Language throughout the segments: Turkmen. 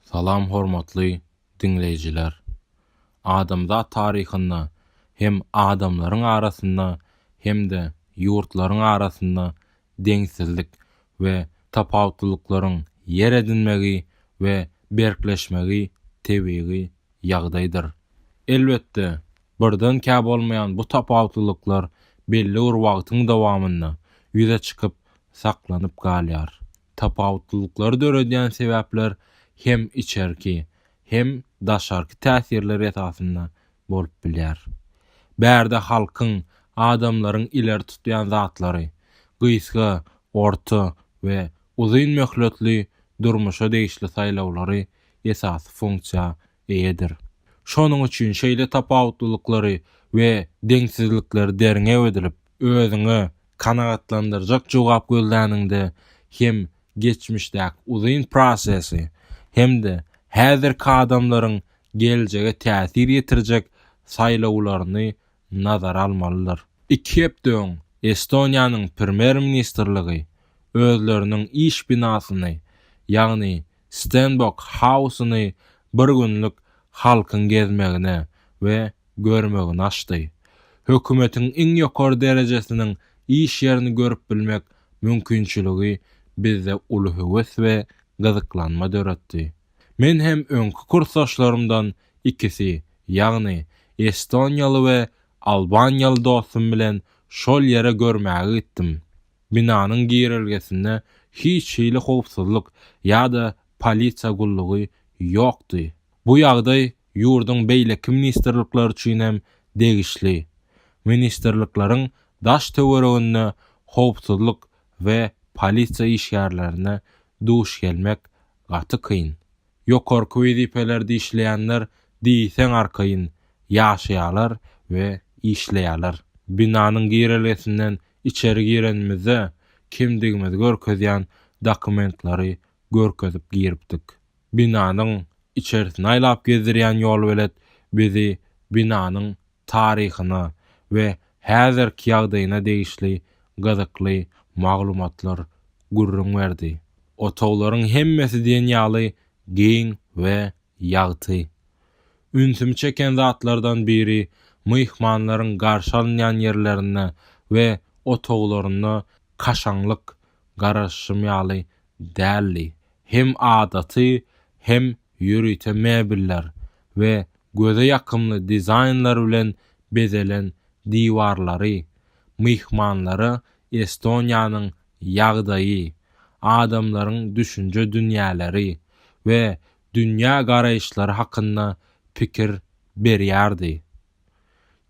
Salam hormatly diňleýjiler! Adamzat taryhynda hem adamlaryň arasynda hem-de ýurtlaryň arasynda deňsizlik we tapawutlylyklaryň ýer edinmegi we berkleşmegi tebigy ýagdaýdyr. Elbetde, birdenkä bolmaýan bu tapawutlylyklar belli bir wagtyň dowamynda ýüze çykyp saklanyp galýar. Tapawutlylyklary döredýän sebäpler hem içerki, hem daşarky täsirler esasynda bolup bilýär. Bärde halkyň, adamlaryň ileri tutýan zatlary, gysga, orta we uzyn möhletli durmuşa degişli saýlawlary esasy funksiýa eýedir. Şonuň üçin şeýle tapawutlylyklary we deňsizlikleri derňew edilip, özüňe kanagatlandyrjak jogap gözläniňde hem geçmişdäki uzyn prosesi, hem-de häzirki adamlaryň geljege täsir ýetirjek saýlawlaryny nazara almalydyr. Iki hepde öň Estoniýanyň Premýer-ministrligi özleriniň iş binasyny, ýagny Stenbok Hausyny bir günlük halkyň gezmegine we görmegine açdy. Hökümetiň iň ýokary derejesiniň iş ýerini görüp bilmek mümkinçiligi bizde uly höwes we gyzyklanma döretdi. Men hem öňki kursdaşlarymdan ikisi, ýagny estoniýaly we albaniýaly dostum bilen şol ýere görmäge gitdim. Binanyň girelgesinde hiç hili howpsuzlyk ýa-da polisiýa gullugy ýokdy. Bu ýagdaý ýurduň beýleki ministrlikleri üçin hem degişli. Ministrlikleriň daş-töwereginde howpsuzlyk we polisiýa işgärlerine duş gelmek gaty kyn. Ýokarky wezipelerde işleýänler diýseň arkaýyn ýaşaýarlar we işleýärler. Binanyň girelgesinden Içeri girenimizde kimdigimizi görkezýän dokumentlary görkezip giripdik. Binanyň içerisini aýlap gezdirýän ýolbelet bizi binanyň taryhyna we häzirki ýagdaýyna degişli gyzykly maglumatlar gürrüň berdi. Otaglaryň hemmesi diýen ýaly giň we Ýagty. Ünsümi çeken zatlardan biri myhmanlaryň garşy alynýan ýerlerinde we otaglarynda kaşaňlyk, garaşyşym ýaly, däldi. Hem adaty, hem ýörite mebeller we göze ýakymly dizaýnlar bilen bezelen diwarlary myhmanlara Estoniýanyň ýagdaýy, adamlaryň düşünje dünýäleri we dünýä garaýyşlary hakynda pikir berýärdi.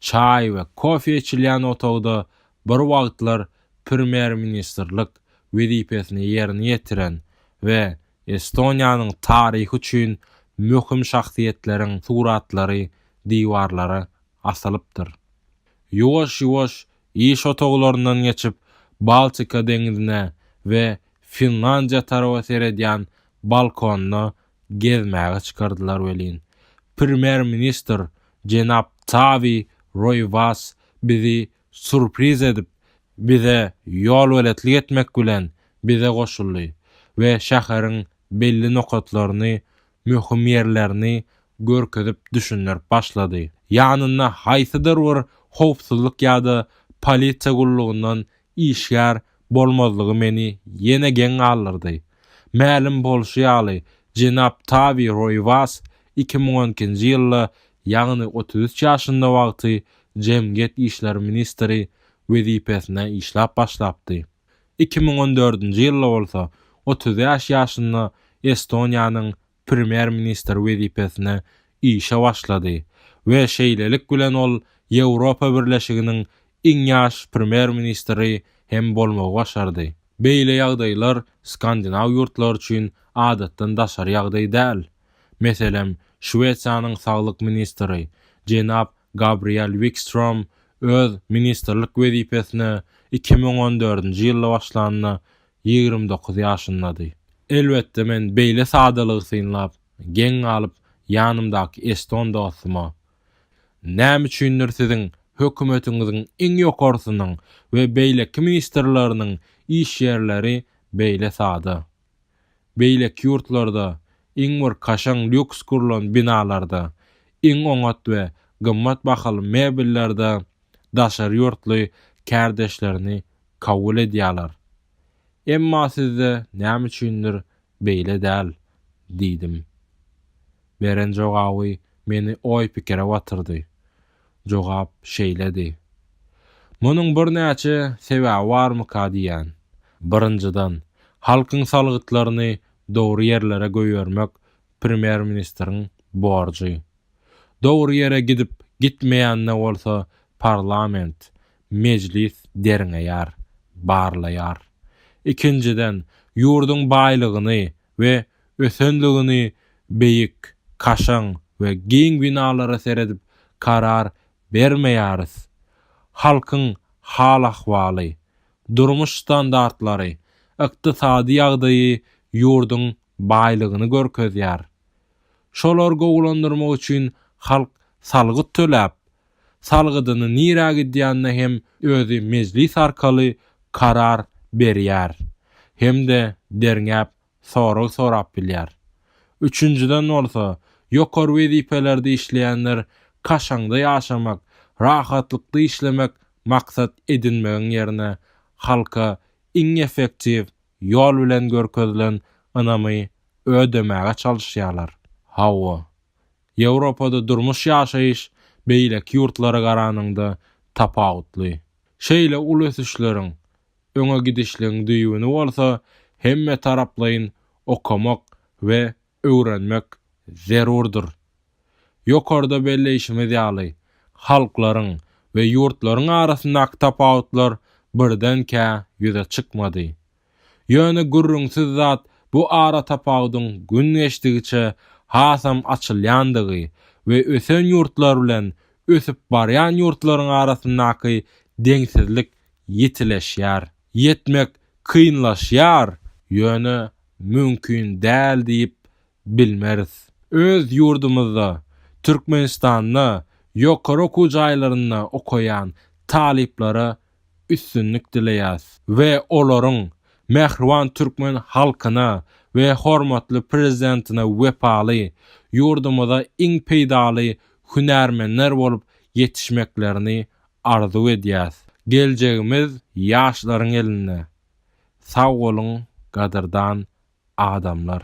Çaý we kofe içilýän otagda bir wagtlar premýer-ministrlik wezipesini ýerine ýetiren we Estoniýanyň taryhy üçin möhüm şahsyýetleriň suratlary diwarlara asylypdyr. Ýuwaş-ýuwaş Iş otaglaryndan geçip, Baltika deňizine we Finlandiýa taraba seredýän balkonda gezmäge çykardylar welin, premýer-ministr jenap Tavi Roýwas bizi surpriz edip, bize ýolbeletlik etmek bilen bize goşuldy we şäheriň belli nokatlaryny möhüm ýerlerini görkezip düşündirip başlady. Ýanynda haýsydyr bir howpsuzlyk ýa-da polisiýa gullugyndan işgär bolmazlygy meni ýene geň galdyrdy. Mälim bolşy ýaly, jenap Tawi Roýwas iki müň on ikinji ýylda, ýagny otuz üç ýaşynda wagty jemgyýet işleri ministri wezipesinde işläp başlapdy. Iki müň on dördünji ýylda bolsa otuz bäş ýaşynda Estoniýanyň premýer-ministri wezipesine işe başlady we şeýlelik bilen ol Ýewropa Birleşiginiň iň ýaş premýer-ministri hem bolmagy başardy. Beýle ýagdaýlar skandinaw ýurtlary üçin adatdan daşary ýagdaý däl. Meselem, Şwesiýanyň saglyk ministri jenap Gabriel Wikstrom öz ministrlik wezipesine iki müň on dördünji ýylda başlanda ýigrimi dokuz ýaşyndady. Elbetde men beýle sadalygy synlap, geň galyp, ýanymdaky eston dostuma, Näme üçindir siziň hökümetiňiziň iň ýokarsynyň we beýleki ministrleriniň iş ýerleri beýle sada? Beýleki ýurtlarda iň bir kaşaň lýuks gurlan binalarda, iň oňat we gymmat bahaly mebellerde daşary ýurtly kärdeşlerini kabul edýärler. Emma sizde näme üçindir beýle däl, diýdim. Beren jogaby meni oý-pikire batyrdy. Jogap şeýledi. Munuň birnäçe sebäbi barmyka diýýän. Birinjiden, halkyň salgytlaryny dogry ýerlere goýbermek premýer-ministriň borjy. Dogry ýere gidip, gitmeýänine bolsa parlament, mejlis derňeýär, barlaýar. Ikinjiden, ýurduň baýlygyny, we ösenligini beýik, kaşaň we giň binalara seredip karar bermeýäris. Halkyň hal-ahwaly, durmuş standartlary, ykdysady ýagdaýy ýurduň baýlygyny görkezýär. Şolary gowulandyrmak üçin halk salgyt töläp, salgydyny nirä gidýänine hem özi mejlis arkaly karar berýär hem-de derňäp sorag sorap bilýär. Üçünjiden bolsa, ýokary wezipelerde işleýänler kaşaňda ýaşamak, rahatlykda işlemek maksat edinmegiň ýerine, halka iň effektiw ýol bilen görkezilen ynamy ödemäge çalyşýarlar. Hawa, Ýewropada durmuş-ýaşaýyş beýleki ýurtlara garanyňda tapawutly. Şeýle uly ösüşleriň, öňe gidişligiň düýbüni bolsa hemmetaraplaýyn okamak we öwrenmek zerurdyr. Ýokarda belleýşimiz ýaly, halklaryň we ýurtlaryň arasyndaky tapawutlar birdenkä ýüze çykmady. Ýöne gürrüňsiz zat bu aratapawudyň gün geçdigiçe hasam açylýandygy we ösen ýurtlar bilen ösüp barýan ýurtlaryň arasyndaky deňsizlik ýitileşýär. Ýetmek kynlaşýar, ýöne mümkin däl diýip bilmeris. Öz ýurdumyzda, Türkmenistanda ýokary okuw jaýlarynda okaýan talyplara üstünlik dileýäs we olaryň mähriban türkmen halkyna we hormatly Prezidentine wepaly, ýurdumyza iň peýdaly hünärmenler bolup ýetişmeklerini arzuw edýäs. Geljegimiz ýaşlaryň elinde. Sag boluň, gadyrdan adamlar!